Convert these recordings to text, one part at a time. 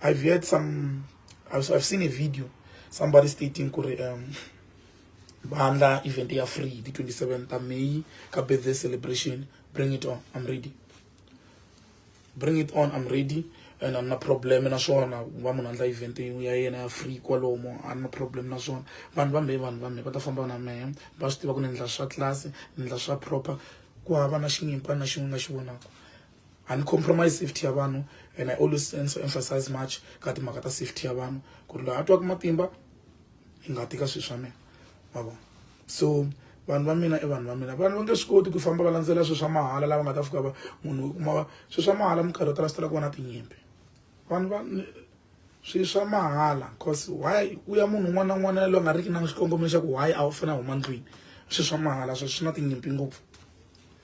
I've heard some, I've, I've seen a video, somebody stating, um, Bahanda event they are free, the 27th of May, birthday celebration, bring it on, I'm ready. Bring it on, I'm ready. And I'm not problem na swona wa munhu andla event ya yena ya free kwalomo a na problem na swona vanhu va mbe vanhu va mbe va ta famba na mehe va swi tiva ku ni endla swa class ni endla swa proper ku hava na xinyimpa na xin'we nga xi vonaka a ni compromise safety ya vanhu and i always sense emphasize much ka timhaka ta safety ya vanhu ku ri loyi a twaka matimba hi nga tika swilo swa mina ma vona so vanhu va mina i vanhu va mina vanhu va nge swi koti ku famba va landzela swilo swa mahala lava nga ta fika va munhu u kuma swilo swa mahala minkarhi yo tala swi tala ku va na tinyimpi vanhu va swilo swa mahala cause why ku ya munhu un'wana na un'wana yaloyi a nga riki na xikongomelo xa ku why a wu fanele a huma ndlwini swilo swa mahala swo swi na tinyimpi ngopfu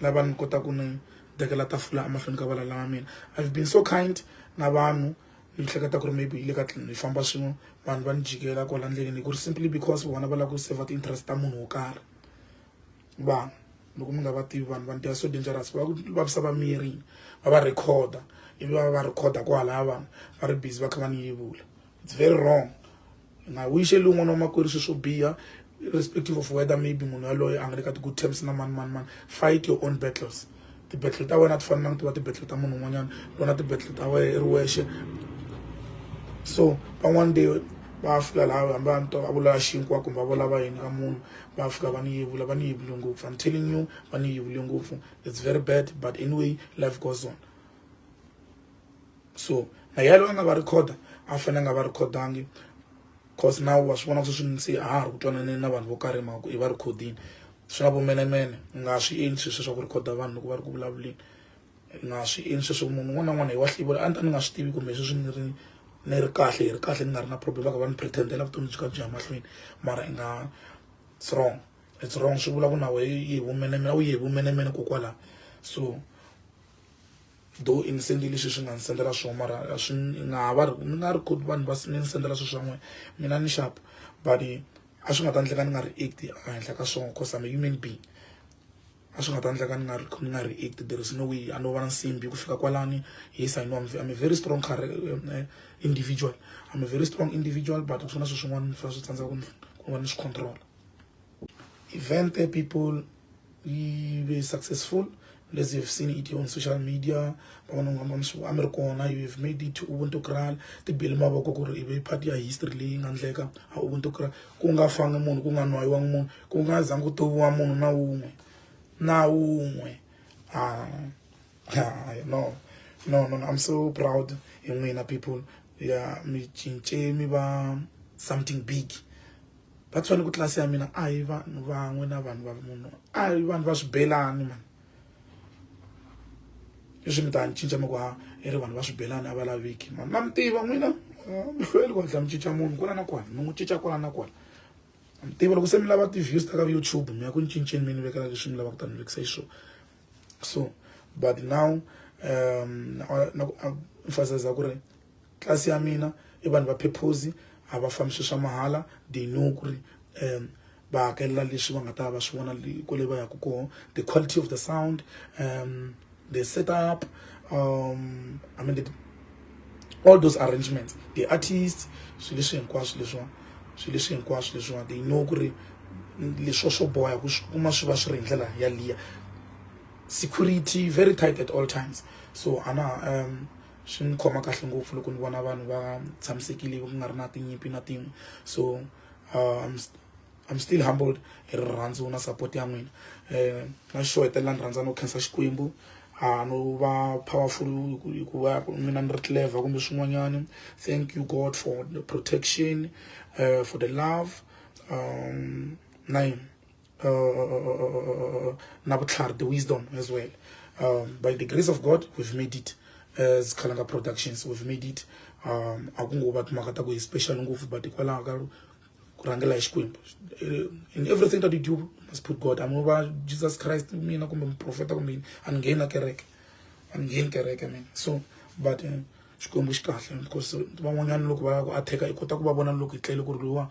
lava ni kota ku ni dekela tafula emahlweni ka valala va mina i've been so kind na vanhu ni hleketa ku ri maybe yi le ka tlini hi famba swin'we vanhu va ni jikela kwala ndleleni ku ri simply because vona va lava ku saver ti-interest ta munhu wo karhi vanhu loko mi nga va tivi vanhu vanhu they are so dangerous va ku vavisa va miri va va recorda ivi va va recorda kwalaya vanhu va ri busy va kha va ni yevula it's very wrong na u yixeli un'wana wa makwerhu swilo swo biha irrespective of whether maybe munhu yaloye a nga le ka ti-good terms na mani mani mani fight your own battles ti-battle ta wena a ti fanelanga ti va ti-battle ta munhu un'wanyana lona ti-battle ta wena i ri wexe so van'wana de va fika laha hambi a ni to a vulala xinkwa kumbe a vulava yini ka munhu va fika va ni yevula va ni yevule ngopfu i'm telling you va ni yevule ngopfu it's very bad but anyway life goes on so na yalo a nga va recorder a fanele nga va recordangi cause na wa swi vona swi swinsi a ha ri ku twananeni na vanhu vo karhi mhaka i va rikhodini swi na vumenemene u nga swi endli sweswo swa ku rikhoda vanhu loko va ri ku vulavuleni u nga swi endli sweswo munhu un'wana na un'wana hi wa hlivula a ni ta ni nga swi tivi kumbe sweswi ni ri ni ri kahle hi ri kahle ni nga ri na problem va ka va ni pretendela vutomi byi ka byi ya mahlweni mara i nga it's wrong it's wrong swi vula ku na wehe yi hi vumenemene a wu yi hi vumenemene kokwalaho so though i ni sendile leswi swi nga ni sendela swona mara a swi nga ha va ni nga ri koti vanhu va ni sendela swilo swan'we mina ni xap but a swi nga ta endleka ni nga react ehenhla ka swona cause I'm a human being a swi nga ta endleka ni nga ri ni nga react there is no way a no va na nsimbi ku fika kwalani yes I know I'm, I'm a very strong eh, individual I'm a very strong individual but ku na swilo swin'wana ni fanele swi tsandza ku va ni swi control event people you were successful as you've seen it on social media americona you have made it ubuntu kral tibili mavoko ku ri ive part ya history leyi nga ndleka a ubuntu kral ku nga fangi munhu ku nga nwayiwangi munhu ku nga zangi ku toviwa munhu na wun'we na wun'we ah, ah, no no no i'm so proud hi n'wina people ya mi cince mi va something big va tshwane ku tlilasi ya mina a hi vanhu van'we na vanhu va munhu a hi vanhu va swibelani mani leswi mi ta ni cinca mi ku ha i ri vanhu va swibelani a va laviki mani na mi tiva n'wina mi hlweli ku hatla mi cinca munhu kwala na kwala mi n'wi cinca kwala na kwala mi tiva loko se mi lava ti-views ta ka youtube mi ya ku ni cinceni mi ni vekela leswi mi lavaka ku ta ni vekisa hi swona so but now um na ku emphasiza ku ri tlasi ya mina i vanhu va phephozi a va fambi swilo swa mahala they know ku ri um va hakelela leswi va nga ta va swi vona kwale va yaka kona the quality of the sound um the setup um i mean the, all those arrangements the artists swilo leswi hinkwaswo leswiwa swilo leswi hinkwaswo leswiwa they know ku ri leswo swo boha ku swi kuma swi va swi ri hi ndlela yaliya security very tight at all times so ana um swi ndzi khoma kahle ngopfu loko ni vona vanhu va tshamisekile ku nga ri na tinyimpi na tin'we so um I'm still humbled hi rirhandzu na support ya n'wina um na xo hetelela ni rhandza no khensa xikwembu a no va powerful hikuva n'wina ni ri clever kumbe swin'wanyana thank you god for the protection uh, for the love um na yini uh, nabutlhari the wisdom as well um, by the grace of god we've made it as khalanga productions we've made it um a ku ngo va timhaka ta ku hi special ngopfu but hikwalaho ka ku rhangela hi xikwembu eh, in everything that you do must put god I'm over jesus christ mina kumbe muprofeta kumbe yini a ni ngheni na kereke a ni ngheni kereke mina so but uh, xikwembu xi kahle because van'wanyana loko va ya ku attack i kota ku va vona loko hi tlele ku ri loyiwa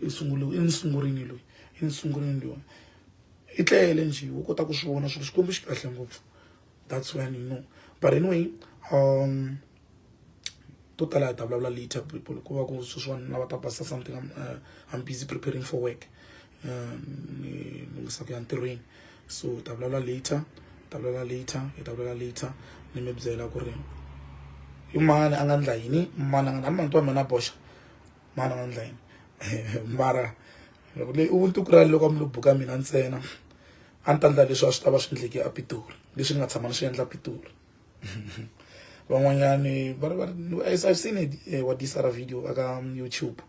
i sunguriwe i ni sungurini loyi i ni sungurini loyi i tlele njhe u kota ku swi vona swilo xikwembu xi kahle ngopfu that's when you know but anyway um to tala hi ta vulavula later people ku va ku sweswiwani lava ta basa something I'm, uh, I'm busy preparing for work um ni lunghisa ku ya ntirhweni so hi ta vulavula later hi ta vulavula later hi ta vulavula later ni mi byela ku ri i mani a nga ndla yini mani a nga ni mantu wa mina boxa mani a nga ndla yini mara loko leyi u ntuku rali loko a mi lo buka mina ntsena a ni ta ndla leswi a swi ta va swi endleke apitori leswi ni nga tshama ni swi endla apitori van'wanyani va ri va ri i've seen it eh, wa disara video aka um, youtube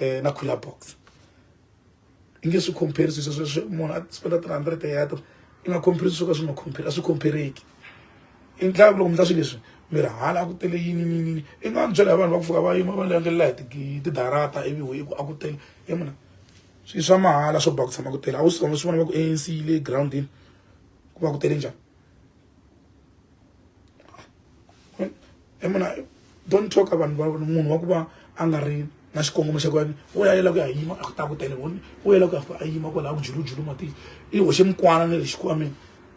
eh, na cooler box i nge swi compare swilo sweswo munhu a spenda three hundred ya ta i nga compare swo ka swi nga compare a swi compareki i ndlaka loko mi ta swilo leswi mi ri hala a ku tele yini yini i nga ni byela hi vanhu va ku fika va yima va langelela hi tidarata ivi hi ku a ku tele i muna swilo swa mahala swo ba ku tshama ku tele a wu swi vona swi vona va ku anc le groundini ku va ku tele njhani emuna don't talk vanhu va munhu wa ku va a nga ri na xikongomelo xa ku yena u ya yela ku ya yima a ta ku tele voni u yela ku ya a yima kwalaha ku julujulu matini i hoxe mikwana na le xikwameni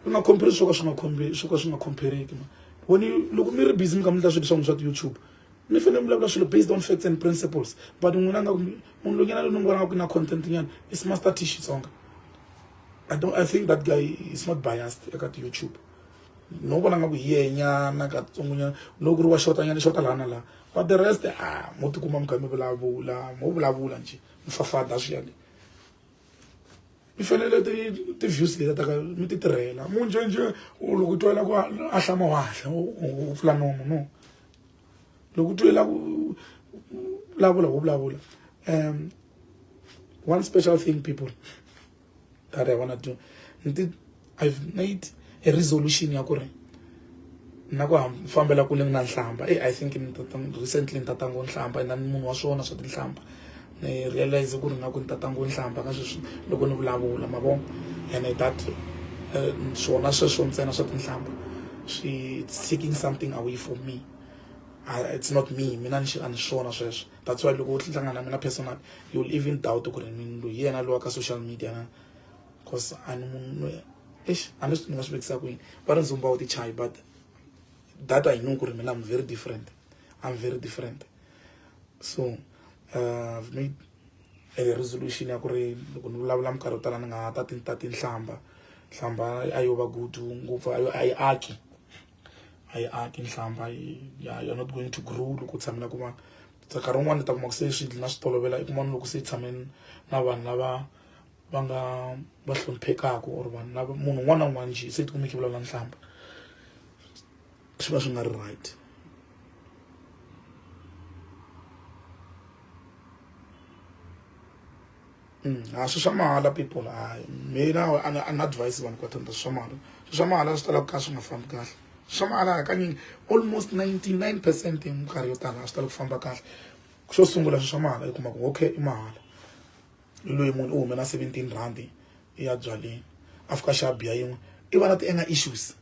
u nga khomperi swo ka swi nga khomberi swo ka swi nga khompereki ma voni loko mi ri busy mi kha mi ta swilo swa n'wi swa ti-youtube mi fanele mi vulavula swilo based on facts and principles but n'wina nga munhu lonyana loyi ni n'wi vonaka ku na content nyana i smaster t xitsonga I don't I think that guy is not biased eka ti YouTube no vona nga ku hiyenyana katsongonya no ku ri wa xota nyana xota lana la but the rest ah mo tikuma mi kha mi vulavula mo vulavula nje mi fafada swi yale mi fanele ti ti views leta ta ka mi ti tirhela mu njenje loko twela ku a hlama wa hla u pfula nomu no loko twe la vulavula wo vulavula um one special thing people that i wanna do nti i've made a resolution ya ku ri na ku fambela kule na nhlamba e i think recently ni tatango nhlamba na munhu wa swona swa tinhlamba ni realize ku ri nga ku ni tata ngo ni hlamba ka sweswi loko ni vulavula ma vo and that eh, swona sweswo ntsena swa tinhlamba swi taking something away from me ah, it's not me mina ni a ni swona sweswo that's why loko u hlangana na mina personal you'll even doubt ku ri mini loyi yena lowa ka social media na because a ni munhu eish a ni ni nga swi vekisa kwini va ri ndzumba wu ti chayi but that i know ku ri mina i'm very different i'm very different so uh, resolution ya ku ri loko ni vulavula minkarhi yo tala ni nga ta ta tinhlamba nhlamba a yo va good ngopfu a yo a yi aki a yi aki nhlamba you're not going to grow loko u tshamela ku va nkarhi wun'wana ni ta kuma ku se swi na swi tolovela i kuma ni loko se i tshameni na vanhu lava va nga va hloniphekaka or vanhu lava munhu un'wana na un'wana njhe se ti kumeki vulavula nhlamba swi va swi nga ri right mm, a swi swa mahala people hayi mina an advise vanhu ka thanda swi swa mahala swi swa mahala swi talaka ka swi nga fambi kahle swi swa mahala hakanyingi almost 99 percent hi minkarhi yo tala a swi tala ku famba kahle xo sungula swi swa mahala yi kuma ku okay i mahala i loyi munhu u humela 17 rand ya byaleni a fika xa biya yin'we i va na ti anger issues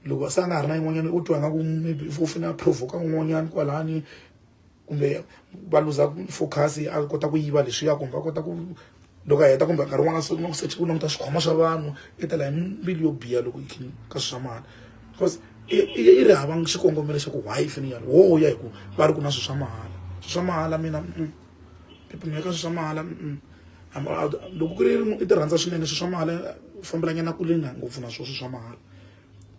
loko se a nga ha ri na yin'wanyana u twa nga ku maybe u fanele a provoka un'wanyana kwalani kumbe va luza focus a kota ku yiva leswiya kumbe va kota ku loko a heta kumbe nkarhi wun'wana se kuma ku search ku languta swikhwama swa vanhu i tela hi mbilu yo biha loko yi ka swi swa mali because i ri hava xikongomelo xa ku why i fanele yi yalo wo ya hi ku va ri ku na swi swa mahala swi swa mahala mina. phephuno eka swilo swa mahala loko ku ri i ti rhandza swinene swilo swa mahala u fambelanyana kule na ngopfu na swona swilo swa mahala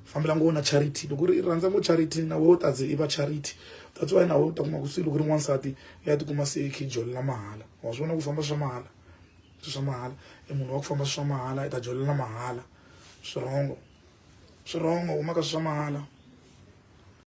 fambela ngopfu na charity loko ri i rhandza ngopfu charity na wena u ta ze i va charity that's why na wena u ta kuma ku se loko ri n'wansati i ya tikuma se i kha i jolela mahala wa swi vona ku famba swa mahala swilo swa mahala i munhu wa ku famba swa mahala i ta jolela mahala swirongo swirongo huma ka swilo swa mahala.